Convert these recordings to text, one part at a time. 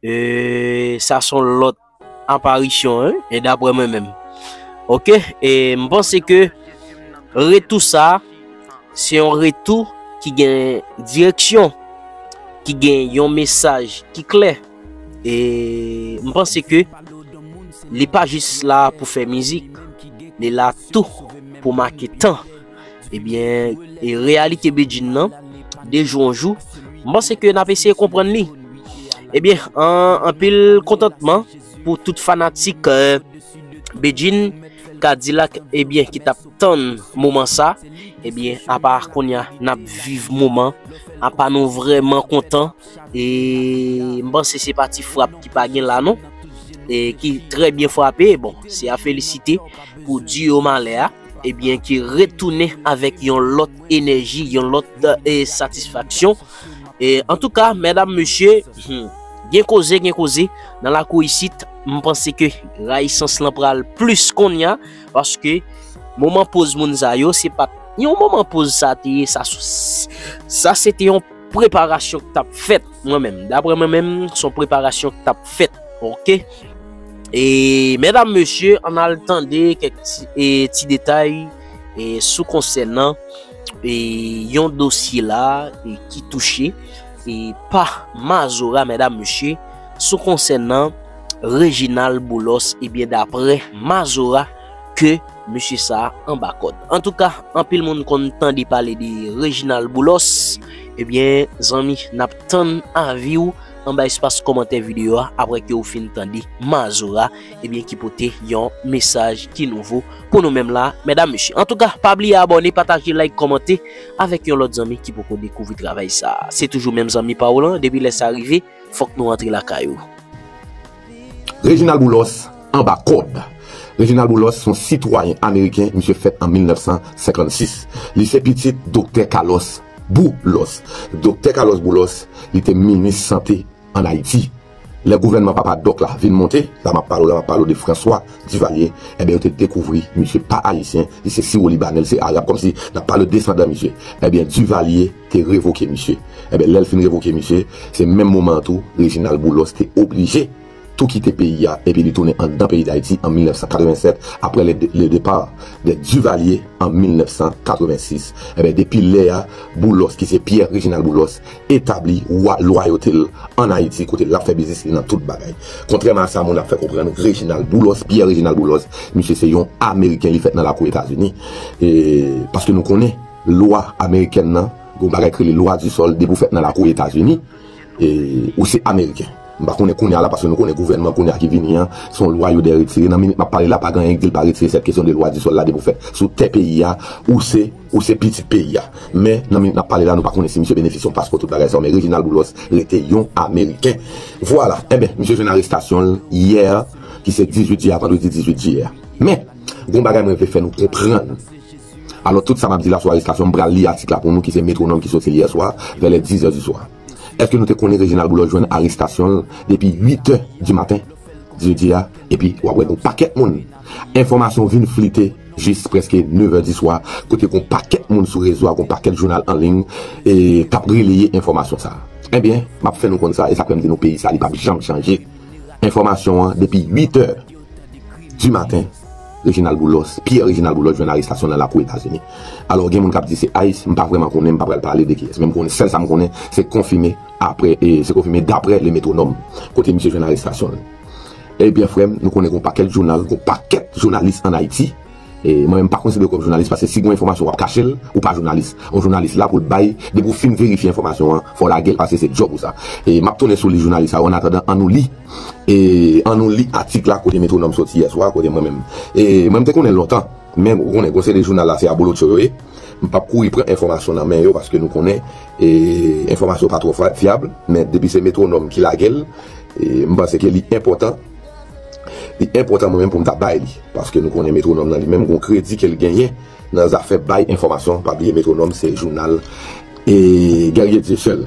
Eee sa son lòt aparisyon hein e daprè mwen menm ok e m panse ke retou sa se yon retou ki gen direksyon ki gen yon mesaj ki klè e m panse ke li pa jis la pou fè mizik li la tou pou make tan. Ebyen, e reyalite Bedjine nan, de jou an jou, m panse ke n ap eseye konprann li. Ebyen, anpil kontantman pou tout fanatik Bedjine, Kadilak ebyen ki t ap tann moman sa. Ebyen, apa kounye a n ap viv moman, apa nou vrèman kontan. E m panse se pa ti frap ki pa gen la non. E ki trè byen frape, bon, se a felisite pou duo Malè a. ebyen ki retounen avèk yon lòt enèji, yon lòt satisfaksyon. Antouka, mèdam, mesye, gen koze, gen koze nan lakou isit. M panse ke rayisans lan pral plis konnya paske moman poz moun sa yo se pat yon moman poz sa te ye. Sa se te yon. Preparasyon k tap fèt mwen menm daprè mwen menm son preparasyon k tap fèt ok e medam mesye an al tande kèk ti detay sou konsènan e yon dosye la ki touche e pa mazora medam mesye sou konsènan Reginald Boulos ebyen daprè mazora ke mesye sa a anba kòd. Antouka, anpil moun konn tande pale de Reginald Boulos, ebyen zanmi n ap tann avi w anba espas kòmantè videyo a aprè ke ou fin tande Mazora ebyen ki pote yon mesaj ki nouvo pou nou menm la medam mesye. Antouka, pa bliye abòne, pataje, like, kòmante avèk yon lòt zanmi ki poko dekouvri travay sa a. Se toujou menm zanmi pa w lan depi lè sa rive. Fok nou antre lakay ou. Reginald Boulos anba kòd! Reginald Boulos se yon sitwayen ameriken, misye fèt an 1956. Li se pitit Doktè Carlos Boulos. Doktè Carlos Boulos, li te minis sante an Ayiti. Lè gouvènman papa dòk la vin monte, la m ap pale w la, m ap pale w de François Duvalier, enben yo te dekouvri misye pa ayisyen, li se siwolibanè, li se arab, kòmsi n ap pale w desandan misye. Enben Duvalier. te revoke misye. Enben lè l fin revoke misye, se menm moman an tou Reginald Boulos te oblije tou kite peyi a epi li tounen anndan peyi Dayiti an 1987 aprè le départ des Duvaliers an 1986. Enben depi lè a, Boulos ki se Pierre Reginald Boulos etabli lwayote l ann Ayiti kote l ap fè biznis li nan tout bagay. Kontrèman a sa moun ap fè konprann, Reginald Boulos, Pierre Reginald Boulos, misye se yon Ameriken li fèt nan lakou Etazini e paske nou konnen. Lwa amerikèn nan, gon bagay ki rele lwa di sòl depi ou fèt nan lakou etazini ou se ameriken m pa konnen kounya la paske nou konnen gouvènman kounya ki vini an son lwa yo dè retire nan minit map pale la pa gen anyen ki di l pa retire sèt kesyon de lwa di sòl la depi ou fèt sou tè peyi a ou se ou se pitit peyi a men nan minit nap pale la nou pa konnen si misye benefisye yon paspò tout bagay sa yo men rejinal boulos rete yon ameriken vwala enben misye jwenn arestasyon l yè ki se 18 jiyè a vandredi 18 jiyè a men gon bagay mwen vle fè nou konprann. Alò tout sa m ap di la sou arestasyon m pral li atik la pou nou ki se Métronome ki soti yè swa vè lè 10 è di swa. Eske nou te konnen Reginald Boulos jwenn arestasyon l depi 8 è di maten jedi a epi w ap wè gon pakèt moun enfòmasyon vin flite jis prèske 9 è di swa kote gon pakèt moun sou rezo a gon pakèt jounal an liy k ap releye enfòmasyon sa enbyen m ap fè nou konn sa e sa k fè m di nou peyi sa li p ap janm chanje enfòmasyon an depi 8 è di maten. Reginald Boulos, Pierre Reginald Boulos jwenn arestasyon l nan lakou Etazini. Alò gen moun k ap di se ice, m pa vrèman konnen, m pa pral pale de kiyès. Men m konnen, sèl sa m konnen, se konfime aprè, se konfime daprè Le Métronome, kote misye jwenn arestasyon l. Ebyen frè m, nou konnen gen yon pakèt jounal, gen yon pakèt jounalis ann Ayiti. Mwen menm m pa konsidere w kòm jounalis paske si gen yon enfòmasyon w ap kache l, ou pa jounalis. Yon jounalis la pou l bay, depi w fin verifye enfòmasyon an, fò w lage l paske se djòb ou sa. M ap tounen sou li jounalis sa yo, annatandan an nou li. E an nou li atik la kote Métronome soti yè swa, kote mwen menm. E mwen m te konnen l lontan, men ou konnen gwo seri jounal la se abolotcho yo ye. M pap kouri pran enfòmasyon nan men yo paske nou konnen e enfòmasyon pa twò fyab, men depi se Métronome ki lage l, m panse ke li enpòtan, li enpòtan mwen menm pou m ta bay li. Paske nou konnen Métronome nan li menm gwo kredi ke l genyen nan zafè bay enfòmasyon, pa bliye Métronome se jounal e Guerrier Dieuseul.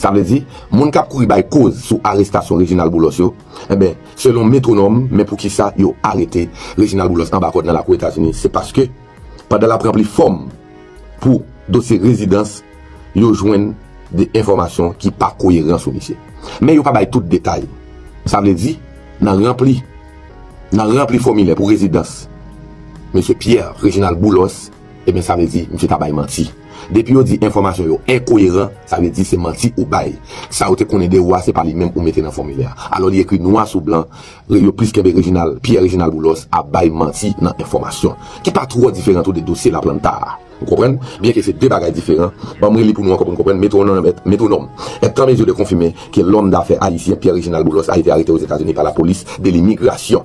Sa vle di, moun kap kouri bay koz sou arestasyon Reginald Boulos yo, enben, selon Metronome, men poukisa yo arete Reginald Boulos anba kòd nan lakou Etazini, se paske pandan lap ranpli fòm pou dosye rezidans, yo jwenn de enfòmasyon ki pa koyeran sou misye. Men yo pa bay tout detay. Sa vle di, nan ranpli, nan ranpli fòmilè pou rezidans Mesye Pierre Reginald Boulos, Ebyen sa vle di misye ta bay manti. Depi yo di enfòmasyon yo enkoyeran, sa vle di se manti ou bay. Sa yo te konnen de ou a se pa li menm ou mete nan fòmilè a. Alò li ekri nwa sou blan, yo plis kenbe Reginald, Pierre Reginald Boulos ap bay manti nan enfòmasyon ki pa twò diferan tou de dosye Laplanta a. Ou konprann? Byen ke se de bagay diferan, ban m reli pou nou ankò pou nou konprann, Metronome est, Métronome, est en mesure de confirmer que l'homme d'affaires haïtien Pierre Reginald Boulos a été arrêté aux États-Unis par la police de l'immigration.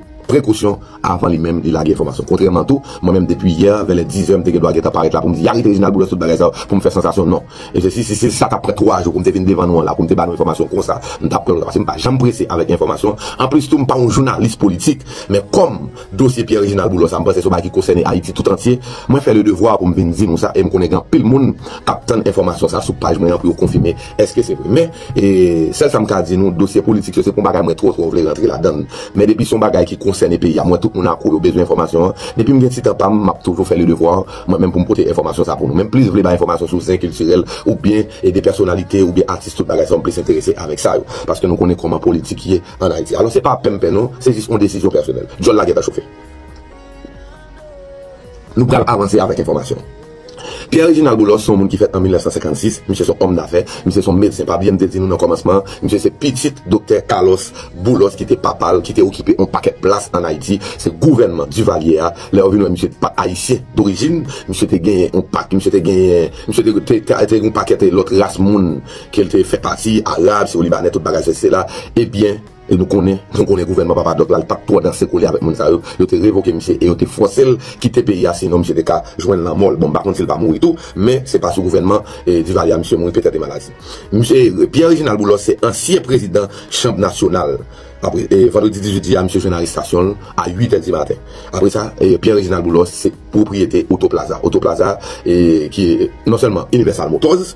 prekosyon avan li menm li lage enfòmasyon kontrèman tou mwen menm depi yè vè lè 10 è m te gen dwa gentan parèt la pou m di arete Reginald Boulos tout bagay sa yo pou m fè sansasyon non e se si si se sa t ap pran 3 jou pou m te vin devan nou an la pou m te ba nou enfòmasyon konsa m t ap pran l konsa paske m pa janm prese avèk enfòmasyon anplis tou m pa yon jounalis politik men kòm dosye Pierre Reginald Boulos la m panse se yon bagay ki kosène Ayiti tout antye mwen fè le devwa pou m vin di nou sa e m konnen gen anpil moun k ap tann enfòmasyon sa sou paj mwen an pou yo konfime èske se vre men E sèl sa m ka di nou, dosye politik yo se pa yon bagay mwen twò twò vle rantre ladan l. Men depi se yon bagay ki konsène peyi a, m wè tout moun akou yo bezwen enfòmasyon an. Depi m gen ti tan pa m, m ap toujou fè le devwa mwen menm pou m pote enfòmasyon sa pou nou. Men m plis vle bay enfòmasyon sou zen kiltirèl oubyen de pèsonalite oubyen atis tout bagay sa yo, m plis enterese avèk sa yo. Paske nou konnen kòman politik ye an Ayiti. Alò se pa penmpen non, se jis yon desizyon pèsonèl. Dyòl la gentan chofe. Nou pral avanse avèk enfòmasyon. Pierre Reginald Boulos se yon moun ki fèt an 1956, misye se yon òm dafè, misye se yon medsen, pa bliye m te di nou nan kòmansman an, misye se pitit Doktè Carlos Boulos ki te papa l ki te okipe yon pakèt plas an Ayiti, se gouvènman Duvalier a, lè yo vin wè misye pa t ayisyen dorijin, misye te genyen yon pa, misye te genyen, misye te te gen yon pakèt lòt ras moun ke l te fè pati, arab, si w libanè, tout bagay sesi sela, ebyen. E nou konnen, nou konnen gouvènman Papa Doc la li pap twò danse kole avèk moun sa yo, yo te revoke misye e yo te fòse l kite peyi a sinon misye te ka jwenn lanmò l, bon m pa konn si l pa mouri tou men se pa sou gouvènman Duvalier a misye mouri petèt e maladi. Misye ere. Pierre Reginald Boulos se ansyen prezidan chanb nasyonal e vandredi 18 jiyè a misye jwenn arestasyon l a 8 è di maten. Apre sa Pierre Reginald Boulos se pwopriyete Auto Plaza, Auto Plaza ki non sèlman Universal Motors,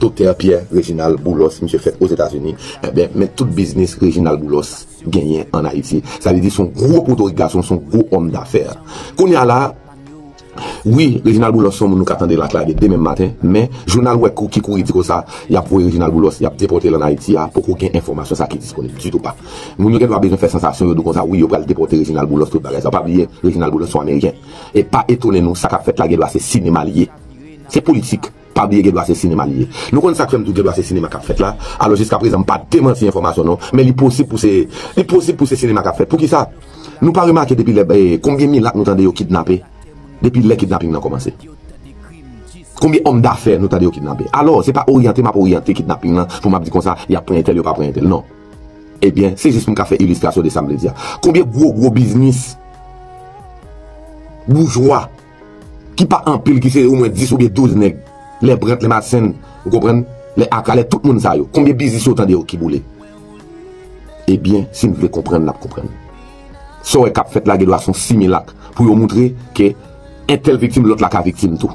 Doktè Pierre Reginald Boulos misye fèt Ozetazini enben men tout biznis Reginald Boulos genyen an Ayiti sa vle di son gwo potorik gason son gwo òm dafè kounya la wi Reginald Boulos son moun nou ka tande laklade demen maten men jounal wè kou ki kouri di konsa yap voye Reginald Boulos yap depòtel an Ayiti a poko gen enfòmasyon sa ki disponib ditou pa moun yo gen dwa bezwen fè sansasyon yo dou konsa wi yo pral depòte Reginald Boulos tout bagay sa pa bliye Reginald Boulos son ameriken e pa etone nou sa kap fèt la gen dwa se sinema li ye se politik. Pa bliye Gèdwa se sinema li ye. Nou konn sak fèm di w Gèdwa se sinema kap fèt la, alò jiska prezan m pa demanti enfòmasyon non, men li posib pou se li posib pou se sinema kap fèt. Poukisa? Nou pa remake depi lè konbyen milat nou tande yo kidnape depi lè kidnaping nan kòmanse? Konbyen òm dafè nou tande yo kidnape? Alò se pa oryante map oryante kidnaping lan pou map di konsa yap pran entèl yo pa pran entèl non. Ebyen se jis pou m ka fè ilistrasyon de sam vle di a. Konbyen gwo gwo biznis boujwa. ki pa anpil ki se omwen 10 oubyen 12 nèg, lè Brandt, lè Madsen, ou konprann, lè Aka, lè tout moun sa yo, konbyen biznis yo tande yo ki boule? Ebyen, si n vle konprann n ap konprann. Sa w wè k ap fèt la gen dwa s on similak pou yo moutre ke entèl viktim lòt la ka viktim tou.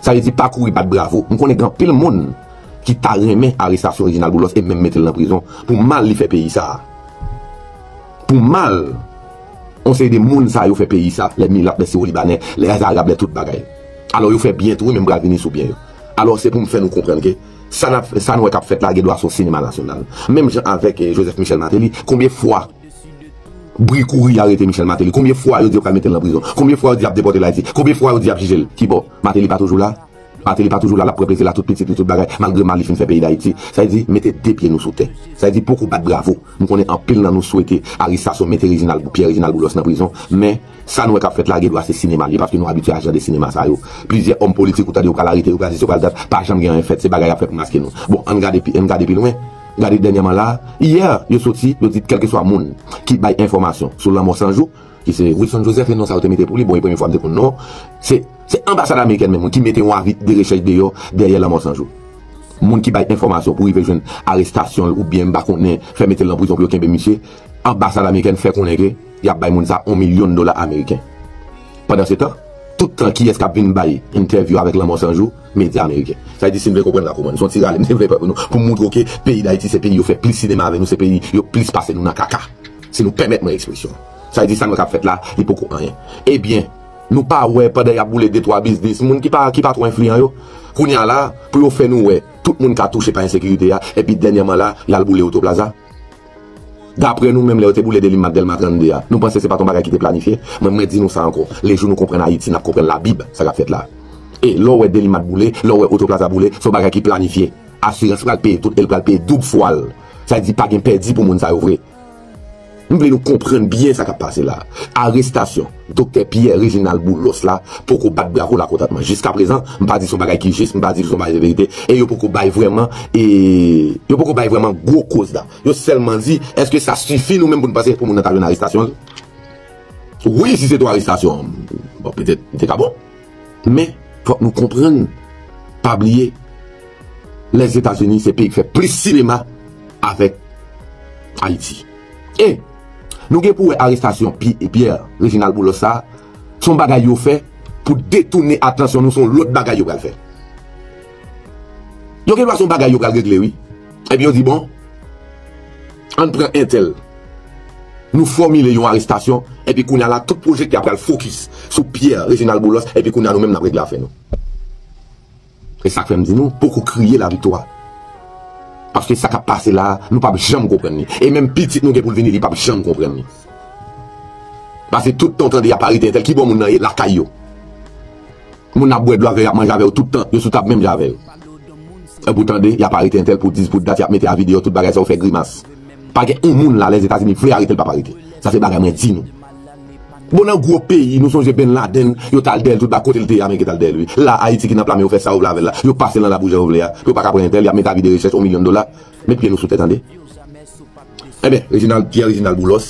Sa vle di pa kouri bat bravo. M konnen gen anpil moun ki ta renmen arestasyon Reginald Boulos e menm mete l nan prizon pou mal li fè peyi sa a. Pou mal yon seri de moun sa yo fè peyi sa, lè milap, lè siwolibanè, lè zarab, lè tout bagay. Alò yo fè byen tou wi men m pral vini sou byen yo. Alò se pou m fè nou konprann ke sa nap sa nou wè kap fèt la gen dwa son sinema nasyonal. Menm jan avèk Joseph Michel Martelly, konbyen fwa bri kouri arete Michel Martelly, konbyen fwa yo di yo pral mete l nan prizon, konbyen fwa yo di yap depòte l Ayiti, konbyen fwa yo di yap jije l, kibò? Martelly pa toujou la? Mateli pa toujou la lap pran plezi la tout pitit li tout bagay malgre mal li fin fè peyi dayiti sa vle di mete 2 pye nou sou tè sa vle di poko bat bravo m konnen anpil nan nou swete arisason mete reginald pierre reginald boulos nan prizon men sa nou wè kap fèt la gedwa se sinema liye paske nou abitye a jan de sinema sa yo plizyè òm politik ou tande yo pral arete yo pral sesi yo pral dat pa janm gen anyen fèt se bagay yap fè pou maske nou bon ann gade pi ann gade pi lwen gade dènyèman la yè yo soti yo di kèlkeswa moun ki bay enfòmasyon sou lanmò sanjou Ki se Wilson Joseph e non sa yo te mete pou li, bon e premye fwa m te konn non, se anbasad amerikèn menm ki mete yon avi de rechèch deyò dèyè lanmò San Jou. Moun ki bay enfòmasyon pou rive jwenn arestasyon l oubyen m pa konnen fè mete l nan prizon pou yo kenbe misye, anbasad amerikèn fè konnen ke y ap bay moun sa yon milyon dola ameriken. Pandansetan, tout tan kiyès k ap vin bay entèvyou avèk lanmò San Jou? Medya ameriken. Sa vle di si n vle konprann la kouman, se yon ti rale m te vle fè pou nou pou m montre w ke peyi Dayiti se peyi yo fè plis sinema avè nou, se peyi yo plis pase nou nan kaka. Si nou pèmèt mwen ekspresyon. Sa vle di sa nou tap fèt la, li poko anyen. Ebyen, nou pa wè pandan yap boule de twa biznis moun ki pa ki pa twò enfliyan yo. Kounye a la, pou yo fè nou wè, tout moun ka touche pa ensekirite a, epi dènyèman la, lal boule Autoplaza. Daprè nou menm lè yo te boule Delimma ak Dèlma 32 a, nou panse se pat yon bagay ki te planifye? Mwen mwen di nou sa ankò, le jou nou konprann Ayiti nap konprann labib sa kap fèt la. E, lè w wè Delimma t boule, lè w wè Autoplaza boule, se yon bagay ki planifye. Asirans pral peye tout el pral peye doub fwal. Sa vle di pa gen pèdi pou moun sa yo vre. M vle nou konprann byen sa k ap pase la a. Arestasyon Doktè Pierre Reginald Boulos la poko bat bravo lakontantman. Jiskaprezan, m pa di s on bagay ki jis, m pa di l s on bagay ki verite, e yo poko bay vrèman e yo poko bay vrèman gwo koz la. Yo sèlman di, èske sa sifi nou menm pou n panse pou moun nan ta jwenn arestasyon l? Wi, si se te w arestasyon an, bon petèt li te ka bon. Men, fòk nou konprann, pa bliye, Lèzetazini se peyi ki fè plis sinema avèk Ayiti. E, nou gen pou wè arestasyon Pierre Réginald Boulos sa a, se yon bagay yo fè pou detounen atansyon nou sou yon lòt bagay yo pral fè. Yo gen dwa se yon bagay yo pral regle wi, epi yo di bon. Ann pran entèl. Nou fòmile yon arestasyon epi kounye a la tout pwojekte a pral fokis sou Pierre Reginald Boulos epi kounye a nou menm n ap regle afè nou. E sa k fè m di nou poko kriye laviktwa. Paske sa k ap pase la a nou p ap janm konprann li. E menm pitit nou gen pou l vini li p ap janm konprann li. Pase tout tan w tande y ap arete entèl, kibò moun nan ye? Lakay yo. Moun ap bwè dlo avèw yap manje avèw tout tan yo sou tab menm jan avèw epou tande yap arete entèl pou dis pou dat yap mete avi deyò tout bagay sa ou fè grimas pa gen yon moun la lèzetazini vle aretel pap arete sa se bagay mwen di nou bon nan gwo peyi nou sonje ben laden yo tal dèyèl tout ba kotel te ya men yo tal dèyèl wi la ayiti ki nan pla men yo fè sa yo vle avèl la yo pasel nan labou jan yo vle ya pou yo paka pran entèl yap mete avi de rechèch on milyon dola. Met pye nou sou tè tande. Enben, Reginald, Pierre Reginald Boulos,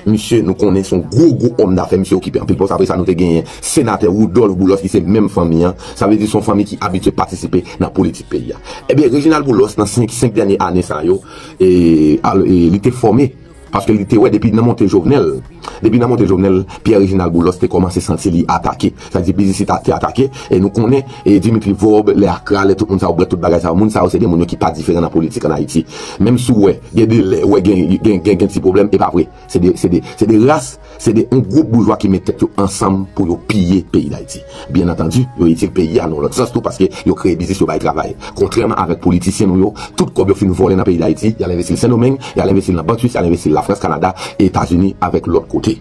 misye nou konnen son gwo gwo òm dafè, misye okipe anpil pòs, apre sa nou te genyen Senatè Rudolph Boulos ki se menm fanmi an, sa vle di son fanmi ki abitye patisipe nan politik peyi a. Enben, Reginald Boulos nan 5 dènye ane sa yo, li te fòme. Paske li te wè depi nan monte Jovenel, depi nan monte Jovenel, Pierre Reginald Boulos te kòmanse santi li atake. Sa vle di biznis li te atake. E nou konnen Dimitri Vorbe, lè Accra, lè tout moun sa yo, brèt tout bagay sa yo, moun sa yo se de moun yo ki pa diferan nan politik an Ayiti. Menm si w wè, gen de lè ou wè gen gen gen gen ti pwoblèm, e pa vre. Se de se de se de ras Se de yon gwoup boujwa ki met tèt yo ansanm pou yo piye peyi Dayiti. Byen antandi, yo itil peyi a nan yon lòt sans tou paske yo kreye biznis, yo bay travay. Kontrèman avèk politisyen nou yo, tout kòb yo fin vòlè nan peyi Dayiti, y al envesti l Sendomeng, y al envesti l nan bank swis, y al envesti l Lafrans, Kanada, Etazini avèk lòt kote.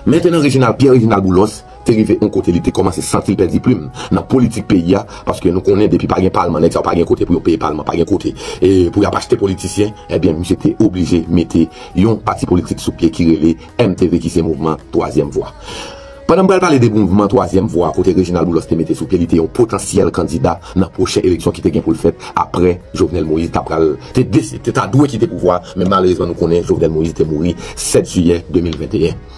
Mentenan Rejinal, Pyè Rejinal Boulòs, te rive yon kote li te kòmanse santi l pèdi plim nan politik peyi a paske nou konnen depi pa gen palman nèg sa yo pa gen kote pou yo peye palman pa gen kote pou y ap achte politisyen ebyen misye te oblije mete yon pati politik sou pye ki rele MTV ki se mouvman twazyèm vwa pandan m pral pale de mouvman twazyèm vwa kote Reginald Boulos te mete sou pye li te yon potansyèl kandida nan pwochen eleksyon ki te gen pou l fèt aprè Jovenel Moïse ta pral te ta dwe kite pouvwa men malerezman nou konnen Jovenel Moïse te mouri 7 jiyè 2021.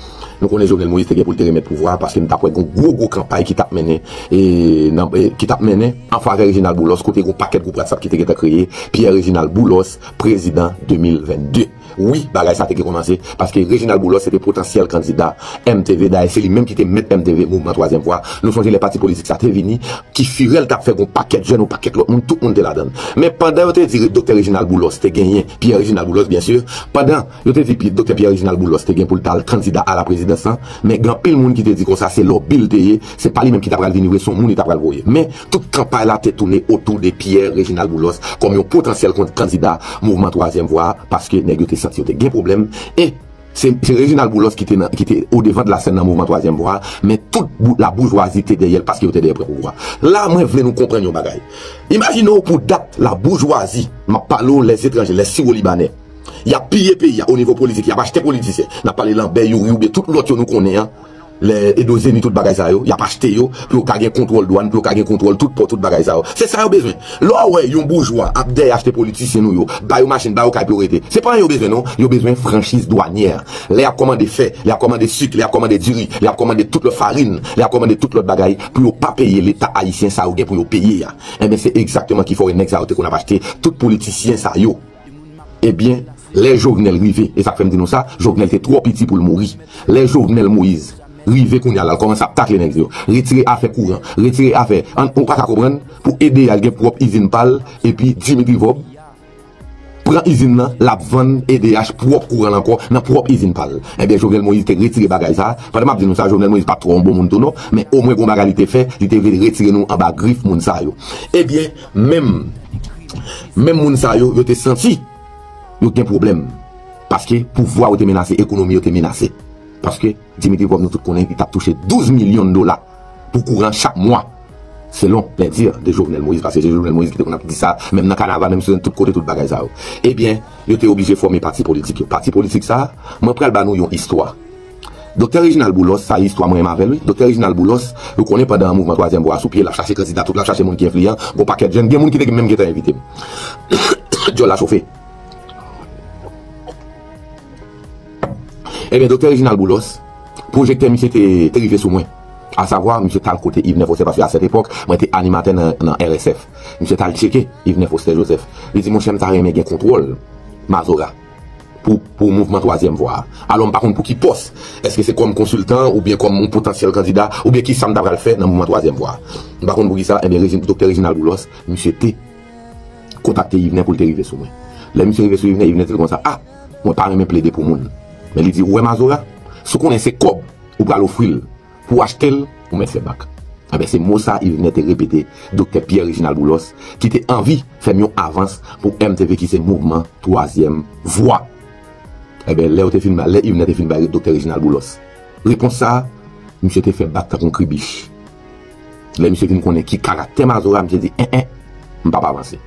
Nou konnen Jovenel Moïse te gen pou l te remèt pouvwa a paske nou t ap wè gon gwo gwo kanpay ki t ap mennen ki t ap mennen an favè Reginald Boulos kote gon pakèt gwoup WhatsApp ki te gentan kreye Pierre Reginald Boulos prezidan 2022 wi bagay sa te gen kòmanse paske Reginald Boulos se te potansyèl kandida MTV dayè se li menm ki te mèt MTV mouvman twazyèm vwa nou sonje lè pati politik sa te vini ki firèl t ap fè gon pakèt jèn yon pakèt lòt moun tout moun te ladann men pandan yo te di doktè Reginald Boulos te genyen Pierre Reginald Boulos byen sur pandan. Yo te di Doktè Pierre Reginald Boulos te gen pou l tal kandida a la prezidans lan, men gen anpil moun ki te di konsa se lòbi l te ye, se pa li menm ki ta pral vini vre, se yon moun li ta pral voye. Men, tout kanpay la te tounen otou de Pierre Reginald Boulos kòm yon potansyèl kandida mouvman twazyèm vwa a, paske nèg yo te santi yo te gen pwoblèm, e se Reginald Boulos ki te o devan de la sèn nan mouvman twazyèm vwa a, men tout la boujwazi te dèyè l paske yo te dèyè pran pouvwa. La mwen vle nou konprann yon bagay. Imajine w pou dat la boujwazi, m ap pale w lèzetranje, lè siwolibanè, Yap piye peyi a onivo politik yap achte politisyen nap pale lanbè youri oubyen tout lòt yo nou konnen an lè edo zeni tout bagay sa yo yap achte yo pou yo ka gen kontwòl dwàn pou yo ka gen kontwòl tout pò tout bagay sa yo se sa yo bezwen lè w wè yon boujwa ap dèyè achte politisyen nou yo ba yo machin ba yo kay pou yo rete se pa anyen yo bezwen non yo bezwen franchiz dwanyè lè yap kòmande fè lè yap kòmande sik lè yap kòmande diri lè yap kòmande tout lòt farin lè yap kòmande tout lòt bagay pou yo pa peye leta ayisyen sa yo gen pou yo peye a enben se egzakteman ki fè w wè nèg sa yo te konn ap achte tout politisyen sa yo. Ebyen lè jovenel rive e sak fèm di nou sa jovenel te twò piti poul mouri lè jovenel moise rive kounya lal kòmanse ap takle nèg yo retire afè kouran retire afè an nou paka konprann pou ede al gen pwòp izin pal epi dimitri vob pran izin nan lap vann edh pwòp kouranl ankò nan pwòp izin pal ebyen jovenel moise te retire bagay sa pandan map di nou sa jovenel moise pat twò yon bon moun tou non men omwen gon bagay li te fè li te vle retire nou anba grif moun sa yo ebyen. Menm Menm moun sa yo, yo te santi Yo t gen pwoblèm Paske pouvwa yo te menase, ekonomi yo te menase Paske Dimitri Vorbe nou tout konnen li tap touche 12 milyon dola Pou kouran chak mwa Selon les dires de Jovenel Moïse Paske se Jovenel Moïse ki te konn ap di sa Menm nan kanaval, menm sou tout kote tout bagay sa yo Ebyen yo te oblije fòme pati politik yo Pati politik sa, mwen pral ba nou yon istwa. Doktè Reginald Boulos sa istwa mwen renmen avèl wi Doktè Reginald Boulos ou konnen pandan mouvman twazyèm vwa a sou pye lap chache kandida tout lap chache moun ki enfliyan gon pakèt jèn gen moun ki te menm gentan envitem dyòl la chofe ebyen Doktè Reginald Boulos pwojektè misye te rive sou mwen asavwa misye tal kote Yvner Foster paske a sèt epòk mwen te animatè nan RSF misye tal tcheke Yvner Foster Joseph li di monchè m ta renmen gen kontwòl Mazora. pou mouvman twazyèm vwa a. Alò m pa konn pou ki pòs, èske se kòm konsiltan oubyen kòm yon potansyèl kandida oubyen ki sa m ta pral fè nan mouvman twazyèm vwa a. M pa konn pou ki sa, enben Regi, Doktè Reginald Boulos, misye te kontakte Yvner pou l te rive sou mwen. Lè misye rive sou Yvner, Yvner di l konsa, a, mwen pa renmen plede pou moun. Men li di, ou wè Mazora, si w konnen se kòb ou pral ofri l, Pou w achte l, ou mèt fè bak. Enben, se mo sa Yvenè te repete Doktè Pierre Réginald Boulos ki te anvi fè m yon avans pou MTV ki se Mouvman Twazyèm Vwa. Enben, lè yo te fin ba, lè Yvenè te fin bay Doktè Réginald Boulos repons sa, misye te fè bak tankou yon kribich. Lè misye vin konnen ki karaktè Mazora, misye di, en en, m p ap avanse.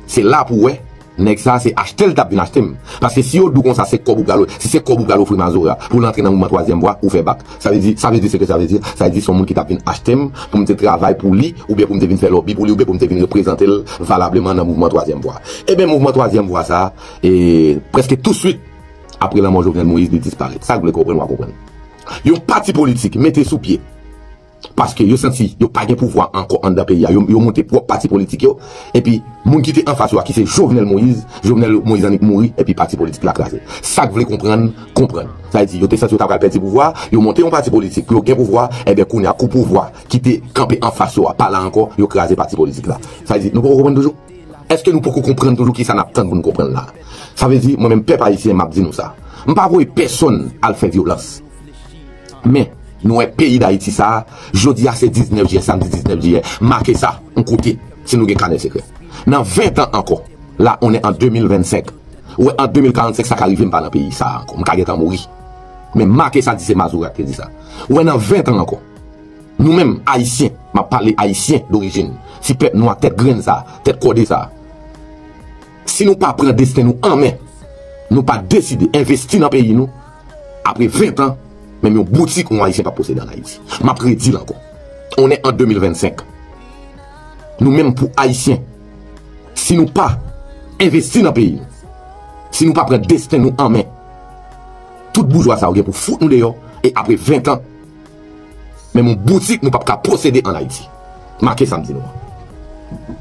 Se la pou w wè Nèg sa se achtel tap vin achtem paske si yo diw konsa se kòb ou pral si se kòb ou pral ofri mazora poul antre nan mouvman twazyèm vwa ou fè bak sa vle di sa vle di seke sa vle di sa vle di son moun ki tap vin achtem poum te travay pou li oubyen poum te vin fè lòbi pou li oubyen poum te vin reprezantel valableman nan mouvman twazyèm vwa eben mouvman twazyèm vwa sa prèske tou swit apre lanmò Jovenel Moïse li disparèt sak vle konprann wap konprann yon pati politik mete sou pye. Paske yo santi yo pa gen pouvwa ankò anndan peyi a. Yo monte pwòp pati politik yo. Epi moun ki te anfas yo a ki se Jovenel Moïse, Jovenel Moïse annik mouri epi pati politik la kraze. Sak vle konprann, konprann. Sa vle di yo te santi yo ta pral pèdi pouvwa a, yo monte yon pati politik pou yo gen pouvwa a, enben kounye a kou pouvwa ki te kanpe anfas yo a pa la ankò, yo kraze pati politik la. Sa vle di nou poko konprann toujou? Eske nou poko konprann toujou kisa n ap tann pou nou konprann la a? Sa vle di mwen menm pèp ayisyen m ap di nou sa. M pa voye pèsonn al fè vyolans. Men, nou wè peyi Dayiti sa a, jodi a se 19 jiyè, samdi 19 jiyè, make sa yon kote, si nou gen kanè sekrè. Nan 20 tan ankò, la on è an 2025, ou wè an 2045 sa ka rive m pa nan peyi sa a ankò, m ka gen tan mouri. Men make sa di se Mazora ki te di sa. Ou wè nan 20 tan ankò, nou menm Ayisyen, m ap pale Ayisyen dorijin, ti pèp nwa tèt grenn sa a, tèt kòde sa a, Si nou pa pran desten nou an men, nou pa deside envesti nan peyi nou, apre 20 an, menm yon boutik yon Ayisyen pap posede an Ayiti. M ap redi l ankò. On è an 2025. Nou menm pou Ayisyen, si nou pa envesti nan peyi nou, si nou pa pran desten nou an men, tout boujwa sa yo gen pou fout nou deyò, e apre 20 an, Menm yon boutik nou pap ka posede an Ayiti. Make sa m di nou an.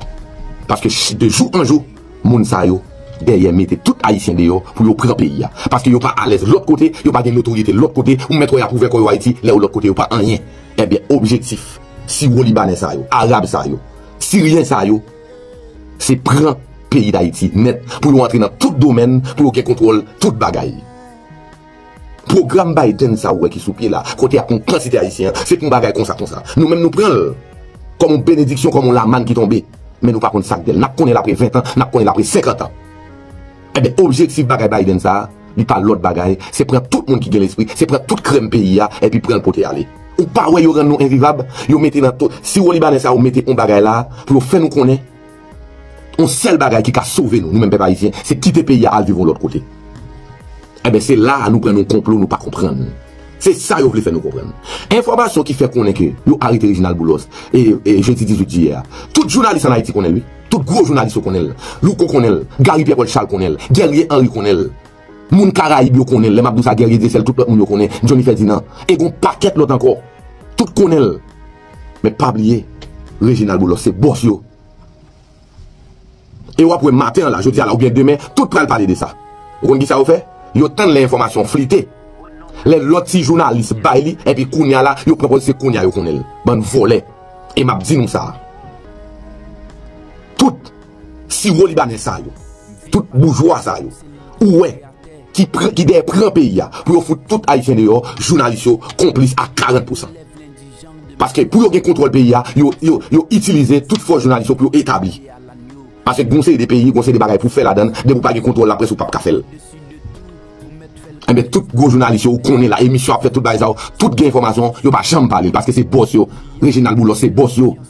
Paske de jou an jou, moun sa yo dèyè mete tout Ayisyen deyò pou yo pran peyi a. Paske yo pa alèz lòt kote, yo pa gen notoryete lòt kote, ou mèt wè y ap ouvè kò yo Ayiti, lè yo lòt kote yo pa anyen. Ebyen objektif siwo Libanè sa yo, Arab sa yo, Siryen sa yo se pran peyi Dayiti nèt pou yo antre nan tout domèn, pou yo gen kontwòl tout bagay. Pwogram Biden sa ou wè ki sou pye la, kote y ap pran kantite Ayisyen an, se pou yon bagay konsa konsa. Nou menm nou pran l kòm yon benediksyon, kòm yon lamann ki tonbe. Men nou pa konn sa k de l. N ap konnen l apre ventan, n ap konnen l apre senkantan. Enben, objektif bagay Biden sa a, li pa lòt bagay, se pran tout moun ki gen lespri, se pran tout krèm peyi a, enpi pran l pote ale. Ou pa wè yo rann nou envivab? Yo mete nan to, siwolibanè sa yo mete yon bagay la pou yo fè nou konnen. Yon sèl bagay ki ka sove nou, nou menm pèp ayisyen, se kite peyi a al viv yon lòt kote. Enben, se la a nou pran yon konplo nou pa konprann. Se sa yo vle fè nou konprann. Enfòmasyon ki fè konnen ke yo arete Reginald Boulos e jedi 18 jiyè a, tout jounalis an Ayiti konnen l wi. Tout gwo jounalis yo konnen l. Louko konnen l. Gary Pierre Paul Charles konnen l. Guerrier Henri konnen l. Moun Karayib yo konnen l. Lè m ap di w sa Guerrier Dieuseul tout lòt moun yo konnen. Johnny Ferdinand. E gon pakèt lòt ankò. Tout konnen l. Men pa bliye Reginald Boulos se boss yo. E wap wè maten an la, jodi a la ou byen demen, tout pral pale de sa. Ou konn ki sa yo fè? Yo tann lè enfòmasyon flite. Lè lòt ti jounalis bay li, enpi kounye a la, yo pran pòz se kounye a yo konnen l. Bann vòlè. E map di nou sa. Tout. Siwo libanè sa yo, tout boujwa sa yo ou wè ki dèyè pran peyi a pou yo fout tout Ayisyen deyò, jounalis yo konplis a 40 pousan. Paske pou yo gen kontwòl peyi a, yo itilize tout fòs jounalis yo pou yo etabli. Paske gen yon seri de peyi, gen yon seri de bagay pou w fè ladan l, depi w pa gen kontwòl laprès ou pap ka fè l. Enben tout gwo jounalis yo ou konnen la, emisyon ap fèt tout bagay sa yo, tout gen enfòmasyon, yo pa janm pale l paske se bòs yo, Reginald Boulos se bòs yo.